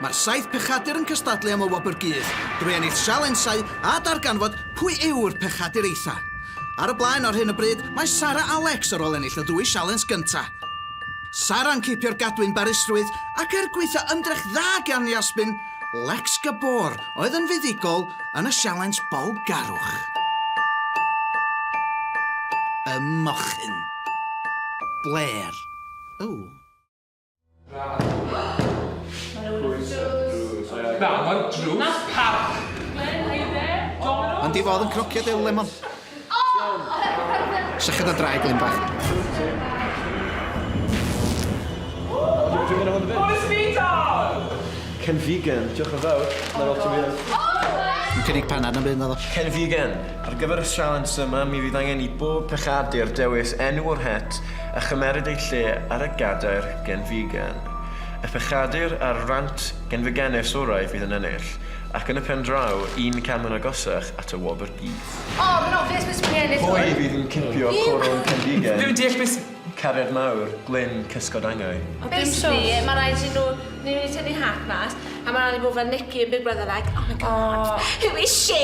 Mae'r saith pechadur yn cystadlu am y Wobr Gudd, drwy ennill sialensau a darganfod pwy yw'r pechadur eitha'. Ar y blaen ar hyn o bryd mae Sara Alex ar ôl ennill y ddwy sialens gynta'. Sara'n cipio'r gadwyn barusrwydd ac er gwaetha' ymdrech dda gan Yasmin, Lex Gabor oedd yn fuddugol yn y sialens bolgarwch. Y mochyn. Blair. Ww. Ond i fod yn cnocio dy lemon. Sychad a draed glyn bach. Ken Vegan, diolch yn fawr. Mae'n lot o fian. Yn cynnig panad na byd naddo. Ken Vegan, ar gyfer y sialens yma mi fydd angen i bob pechadur dewis enw o'r het a chymeryd eu lle ar y gadair genfigen. Y pechadur a'r rant genfigenus orau fydd yn ennill, ac yn y pen draw, un cam yn agosach at y wobr gudd. O, mae'n obvious pwy sy'n mynd i ennill hwn! Pwy fydd yn cipio coron cenfigen? Dwi'm yn deall be sy'. Cariad mawr, Glyn cysgod angau. Basically, mae rhaid iddyn nhw... Ni'n mynd i tynnu hat mas, a mae rhaid i nhw fod fel Nicky yn Big Brother like, Oh my God, who is she?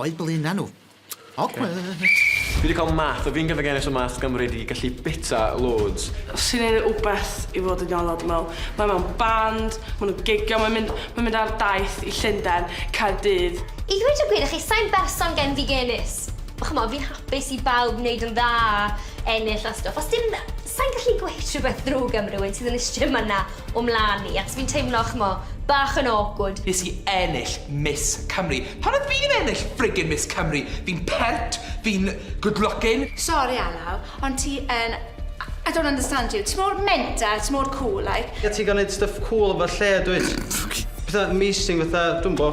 O'i blaena nhw. Awkward! Fi wedi cael math o finger again so math gymryd i gallu bita loads. Os ti'n neud rwbeth i fod yn iawn o dwi'n meddwl, mae mewn band, maen nhw'n gigio, mae'n mynd mae'n mynd ar daith i Llundain, Caerdydd. I ddweud y gwir i chi, sai'n berson genfigennus. Ch'mo' fi'n hapus i bawb neud yn dda, ennill a stwff. Os dim... Sai'n gallu gweud rhywbeth ddrwg am rywun sydd yn y strim yna. o mlan i, achos fi'n teimlo, ch'mo', bach yn awkward. Nes i ennill Miss Cymru. Pam ydw i ddim ennill friggin Miss Cymru? Fi'n pert, fi'n good looking. Sori Alaw, ond ti yn I don't understand you. Ti mor menter a ti mor cŵl, like. Ie, ti'n gallu neud stuff cŵl efo lle, dwyt? Petha amazing fatha, dwi'm bo,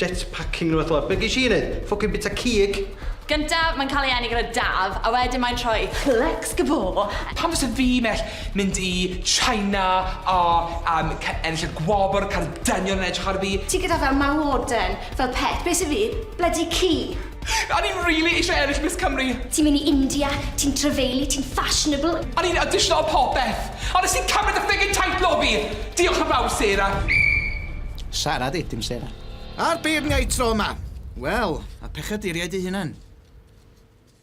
jetpacking neu rwbeth fel 'a. Be' gesh i neud? Ffwcin bita cig? Gyntaf, mae'n cael ei eni gyda Daf, a wedyn mae'n troi Plex Gabor. Pam fyse fi mell? Mynd i China a yym ca- ennill y gwobr, cael y dynion yn edrych ar fi. Ti gyda fel mawoden, fel pet, be' sy fi? Bloody ci! A o'n i rili eisiau ennill Miss Cymru! Ti'n mynd i India, ti'n trafeilu, ti'n fashionable. A o'n i'n awdisiyno a popeth! A wnest ti cymryd y ffugin teitl o fi! Diolch yn fawr, Sarah! Sarah 'di, dim Sarah. A'r beirniaid tro 'ma! Wel, a pechadeiriaid eu hunain.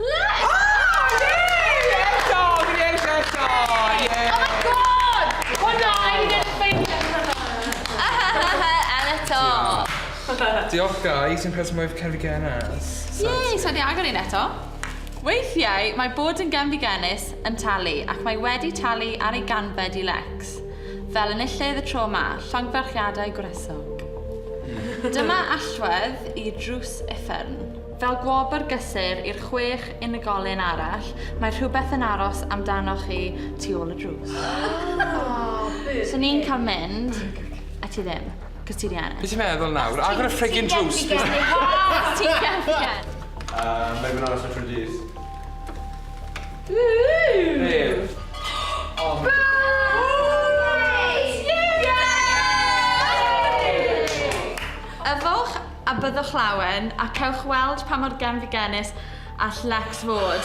Let's! Oh! Yay! Eto! Fi'n eisiau eto! Yay! Oh my god! Hwnna! I need a fake at hwnna! And eto! Diolch guys, un person mwy cefn genus. Yay! So di agor un eto. Weithiau mae bod yn gefn genus yn talu ac mae wedi talu ar ei ganfed i Lex. Fel enillydd y tro ma, llongyfarchiadau gwresog. Dyma allwedd i drws uffern. Fel gwobr gysur i'r chwech unigolyn arall, mae rhywbeth yn aros amdanoch chi tu ôl y drws. So ni'n cael mynd, a ti ddim, cos ti 'di ennill. Be' ti'n meddwl nawr? Agor y friggin drws fi. Os ti'n gallu gen. Yy mae fe'n aros am tri dydd. Be'? Yay! Yay! Yfwch a byddwch lawen, a cewch weld pa mor genfigennus all Lex fod.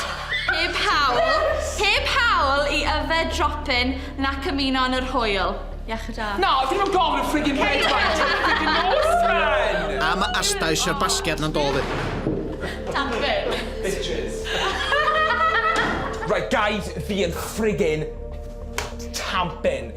Heb hawl, heb hawl i yfed dropyn nac ymuno yn yr hwyl. Iechyd da. Na, dyn nhw'm gofyn am friggin red wine tan y friggin nos, man! A ma asta isio'r basgiad na'n do fi. Tap it. Bitches. Right guys, fi yn friggin tampin.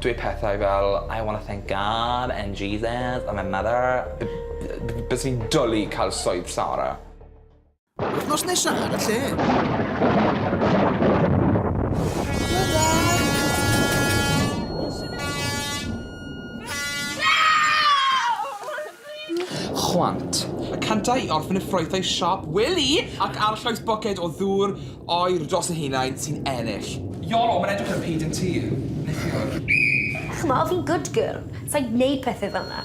dweud pethau fel I wanna thank God and Jesus and my mother b- b- byswn i'n dwli cael swydd Sara. Wythnos nesa ar y lle. Chwant. Y cyntaf i orffen y ffrwythau siop wely ac arllwys bwced o ddŵr oer dros y haenau sy'n ennill. Iolo, mae'n edrych yn pîd yn ti, neithiwr. Ch'mo, fi'n good girl, sai'n gwneud pethe fel 'na.